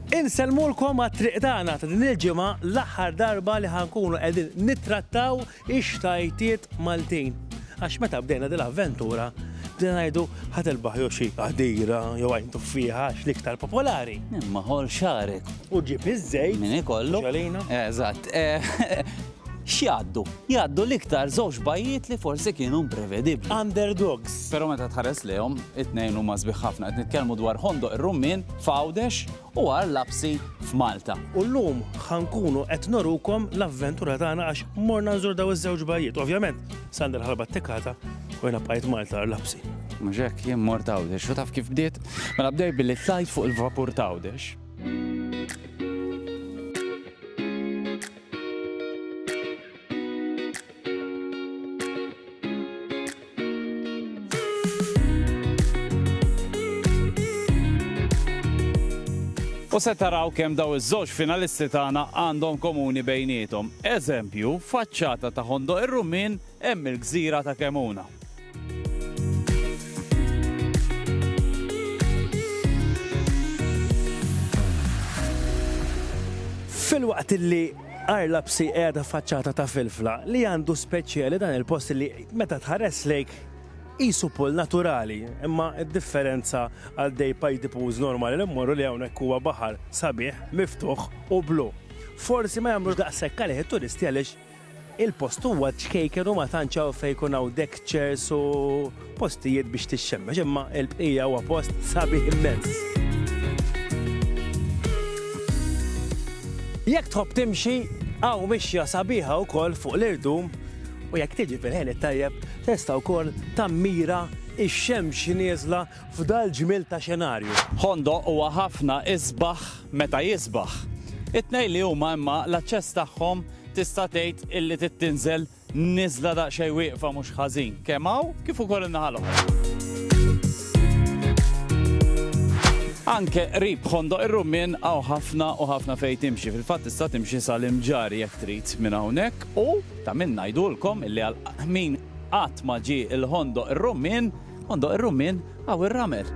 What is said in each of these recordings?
Insellmulkom għat-triq tagħna ta' din il-ġimgħa, l-aħħar darba li ħa nkunu qegħdin nittrattaw ix-xtajtiet Maltin. Għax meta bdejna din l-avventura, bdejna ngħidu ħa tilbaħ jew xi għadira jew għajn tuffieħa għax l-iktar popolari. Imma ħol xagħrek. U ġib iż-żejt. Min ikollu. Ġalina. Eżatt. X'jgħaddu? Jgħaddu l-iktar żewġ bajjiet li forsi kienu imprevedibbli. Underdogs. Però meta tħares lejhom, it-tnejn huma sbieħ ħafna. Qed nitkellmu dwar Ħondoq ir-Rummien f'Għawdex u Għar Lapsi f'Malta. U llum ħa nkunu qed nurukom l-avventura tagħna għax morna nżur daw iż-żewġ bajjiet. Ovvjament, Sander Ħalba ttikata u jiena bqajt Malta Għar Lapsi. Mhux hekk, jien mort Għawdex u taf kif bdiet? Mela bdejt billi tlajt fuq il-vapur t'Għawdex. U se taraw kemm daw iż-żewġ finalisti tagħna għandhom komuni bejniethom. Eżempju, faċċata ta' Ħondoq ir-Rummin hemm il-gżira ta' Kemuna. Filwaqt li Arlapsi qiegħda faċċata ta' filfla li għandu speċjali dan il-post li meta tħares lejk jisu pol naturali, imma id-differenza għal dej pajdi puż normali li mmorru li hawnhekk huwa baħar sabiħ, miftuħ u blu. Forsi ma jagħmlux daqshekk għalih it-turisti għaliex Il-post huwa ċkejken u ma tantx hawn fejn jkun hawn deck chairs u postijiet biex tixxemmex imma l-bqija huwa post sabiħ immens. Jekk tħobb timxi, hawn mixja sabiħa wkoll fuq l-irdum u jekk tiġi fil-ħin it-tajjeb tista' wkoll tammira x-xemx nieżla f'dal ġmiel ta' xenarju. Ħondoq huwa ħafna isbaħ meta jisbaħ. It-tnejn li huma imma l-aċċess tagħhom tista' tgħid illi trid tinżel niżla daqsxejn wieqfa mhux ħażin kemm hawn kif ukoll in-naħa l-oħra. Anke qrib Ħondoq ir-Rummien hawn ħafna u ħafna fejn timxi. Fil-fatt tista' timxi sa l-Imġarr jekk trid minn hawnhekk u ta' min ngħidulkom illi għal min qatt ma ġie 'l Ħondoq ir-Rummien, Ondoq ir-rummien, hawn ir-ramel.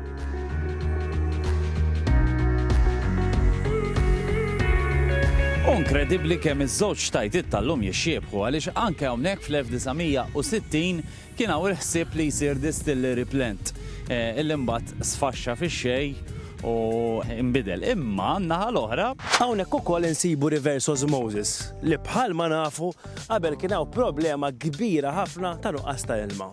Hu inkredibbli kemm iż-żewġ tajtiet tal-lum jixxiebħu għaliex anke hawnhekk fl-1960 kien hawn il-ħsieb li jsir distillery plant eh, illi mbagħad sfaxxa fix-xejn u nbidel. Imma naħa l-oħra. Hawnhekk ukoll insibu reverse osmosis li bħal ma nafu qabel kien hawn problema kbira ħafna ta' nuqqas ta' ilma.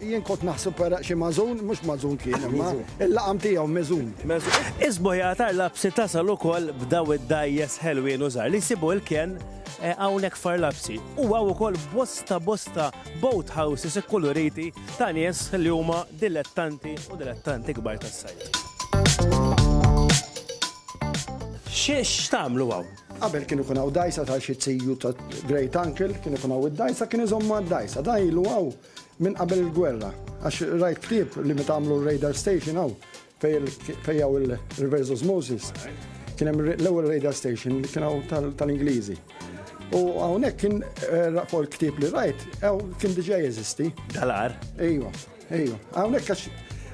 Jien kont naħseb weraq xi magħżun, mhux magħżun kien imma il-laqam tiegħu meżun. Is-sbuħ jaqtar lapsi tasal ukoll b'daw id-dgħajjes ħelwien u żgħar li jsibu l-kenn hawnhekk f'Għar Lapsi. U hawn ukoll bosta bosta boat houses ikkuluriti ta' nies li huma dilettanti u dilettanti kbar tas-sajd. X'tagħmlu hawn? Qabel kien ikun hawn dgħajsa ta' xi tziju ta' great uncle, kien ikun hawn id-dgħajsa, kien iżommha d-dgħajsa. Dan ilu hawn minn qabel il-gwerra, għax rajt ktieb li meta għamlu r-radar station hawn fejn hawn il-reverse osmosis, kien hemm l-ewwel radar station li kien hawn tal-Ingliżi. U hawnhekk kien eh, fuq il-ktieb li rajt, kien diġà jeżisti. Dalar? Ejwa, ejwa. Hawnhekk għax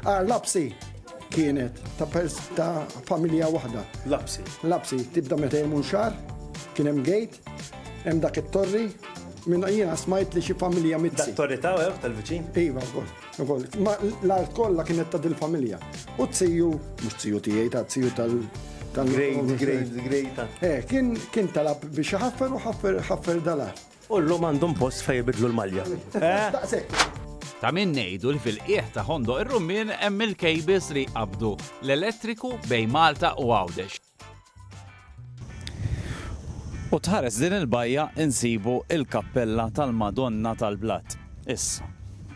għar lapsi kienet ta' pers ta' familja waħda. Lapsi. Lapsi, tibda meta jmun xar, kien hemm gate, Hemm dak it-torri, minn jiena smajt li xi familja mitzi. Dak torri ta' hekk tal-viċin? Iva, wkoll, wkoll. Ma l-art kollha kienet ta' dil-familja. U t-tiju, mhux tiju tiegħi, ta' tiju tal- Great, great, great. Eh, kien talab biex ħaffer u ħaffer ħaffer dalar. U l-lum għandhom post fejn jibidlu l-malja. Ta' min ngħidu li fil-qiegħ ta' Ħondoq ir-Rummien hemm il-kejbils li jqabbdu l-elettriku bejn Malta u Għawdex. U tħares din il-bajja insibu il-kappella tal-Madonna tal-Blat. Issa,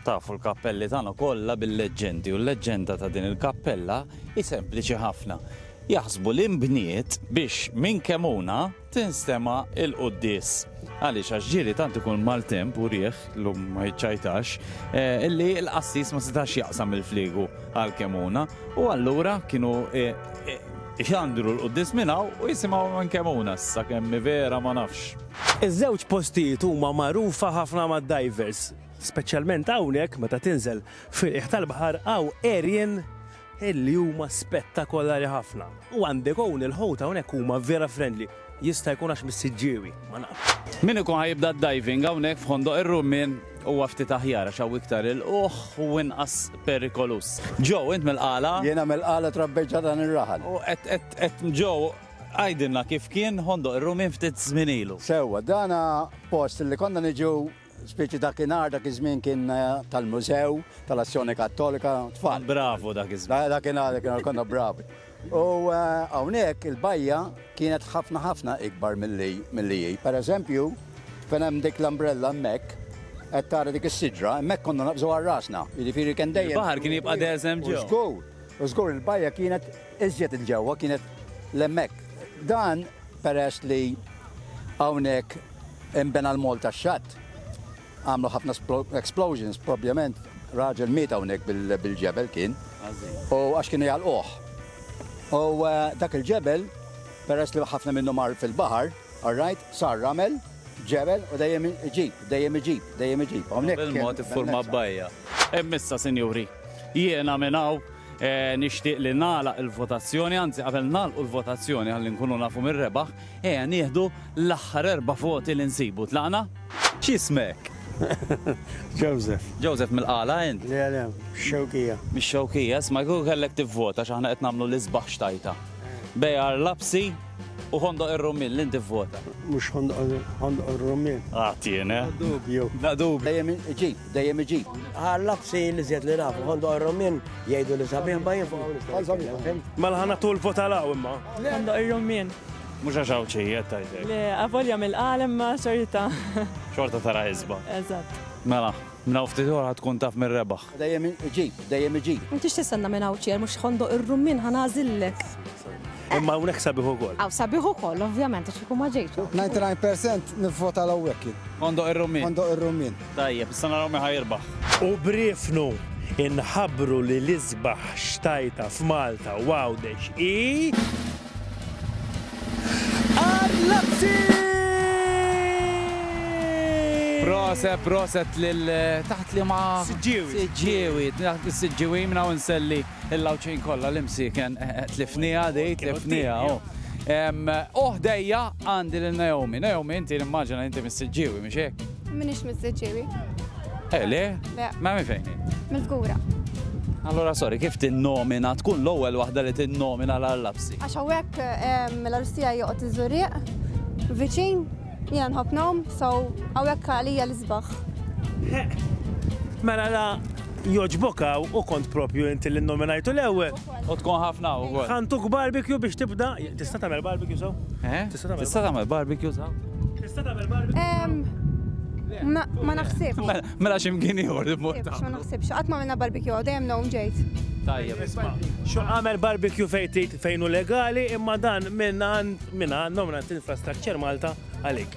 tafu l-kappelli tagħna kollha bil-leġġendi u l-leġġenda ta' din il-kappella hi sempliċi ħafna. Jaħsbu li nbniet biex minn Kemuna tinstema' il-quddies. Għaliex għax ġieli tant ikun maltemp u riħ, llum ma jiċċajtax, eh, li l-qassis ma setax jaqsam il-fliegu għal Kemuna u allura kienu eh, eh, Jandru 'l quddies minn hawn u jisimgħu minn Kemuna, sakemm hi vera ma nafx. Iż-żewġ postijiet huma magħrufa ħafna mad-divers, speċjalment hawnhekk meta tinżel fil-qiegħ tal-baħar hawn għerien illi huma spettakolari ħafna. U għandek hawn il-ħut hawnhekk huma vera friendly. Jista' jkun għax mis-Siġġiewi, ma nafx. Min ikun ħa jibda d-diving hawnhekk f'Ħondoq ir-Rummien huwa ftit aħjar għax hawn iktar 'il quħ u inqas perikoluż. Joe, int mill-Qala? Jiena mill-Qala trabbejt ġa dan ir-raħal. U qed qed qed Joe, għidilna kif kien Ħondoq ir-Rummien ftit żmien ilu. Sewwa, dan post li konna niġu Spiċi dakinhar dak iż-żmien kien tal-Mużew tal-Azzjoni Kattolika tfal. Bravu dak iż-żmien. Dakinhar kien konna bravi. U hawnhekk il-bajja kienet ħafna ħafna ikbar milli hi. Per eżempju, fejn hemm dik l-umbrella hemmhekk, qed tara dik is-siġra, hemmhekk konna naqbżu għal rasna. Jiġifieri kien dejjem. Il-baħar kien jibqa' deżem ġew. Żgur, u żgur il-bajja kienet iżjed il-ġewwa kienet l-hemmhekk. Dan peress li hawnhekk Inbena l-Malta Xatt, għamlu ħafna explosions, probjament raġel miet hawnhekk bil-ġebel kien. U għax kienu jalquh. U eh, dak il-ġebel, peress li ħafna minnu mar fil-baħar, alright, sar ramel, ġebel u dejjem iġib, dejjem iġib, dejjem iġib. Hawnhekk. Il-mod iffurma bajja. Emmissa, sinjuri, jiena minn hawn eh, nixtieq li nagħlaq il-votazzjoni, anzi qabel nagħlqu l-votazzjoni għalli nkunu nafu mir-rebaħ, Ejja nieħdu l-aħħar erba' voti li nsibu. Tlaqna? X'ismek? Joseph. Joseph mill-Qala int? Le le, mix-Xewkija. Mix-Xewkija, isma' kieku kellek tivvota x'aħna qed nagħmlu l-isbaħ xtajtha. Bejgħar Lapsi u Ħondoq ir-Rummien li int tivvota. Mhux Ħondoq ir-Rummien. Qatt jien, eh? Bla dubju. Bla dubju. Dejjem ġid. dejjem iġib. Alla f'si li żjed li nafu, għandu għarrom jien jgħidu li sabiħ ma jien fuq għal Mela ħana tul vota law imma. Għandu għarrom jien. Mux għax għaw ċi, jgħed tajtek. Le, għavolja mill-qalem ma xorta. Xorta tara izba. Eżat. Mela, Mnaw ftit ora tkun taf minn rebaħ. Dejjem iġib, dejjem iġib. Inti x'tistenna minn hawn ċier mhux ħondoq ir-rummin ħanażillek. Imma hawnhekk sabiħ ukoll. Aw sabiħ ukoll, ovvjament, għax ikun ma ġejtu. 99% nivvota l-hawnhekk. Ħondoq ir-rummin. Ħondoq ir-rummin. Tajjeb, issa naraw min ħa jirbaħ. U b'riefnu nħabbru li l-isbaħ xtajta f'Malta u Għawdex hi Ann Lazzi! Proset, proset lil taħt li ma. Siġġiewi. Siġġiewi, taħt is-siġġiewi minna u nselli il-lawċin kollha l-imsiken eh, eh, tlifnija di, tlifnija. Oh. Oħdejja għandi lil Naomi. Naomi, inti l-immaġina inti mis-siġġiewi, miex hekk? Minix mis-Siċili. Eh, le? Le. Ma minn fejn? Mill-Fgura. Allora sorry, kif tinnomina tkun l-ewwel waħda li tinnomina l-arlapsi? Għax hawnhekk ehm, l-arlsija joqgħod iżurriq, viċin, jiena nħobb nom, so hawnhekk għalija l-isbaħ. Mela la joġbokaw u kont propju inti li nominajtu l-ewwel. U tkun ħafna wkoll. Ħantuk barbecue biex tibda. Tista' tagħmel barbecue sew? Eh? Tista' tagħmel Tista' tagħmel barbecue sew? Tista' tagħmel barbecue? Ma naħsibx. Mela, mela x'imkien ieħor li mmur ta'. Ma naħsibx, qatt ma għamilna barbecue għaw, dejjem nowm ġejt. Tajjeb. Xo għamel barbecue fejn fejn hu legali imma dan minn għand minn għandhom minn infrastructure Malta għalik.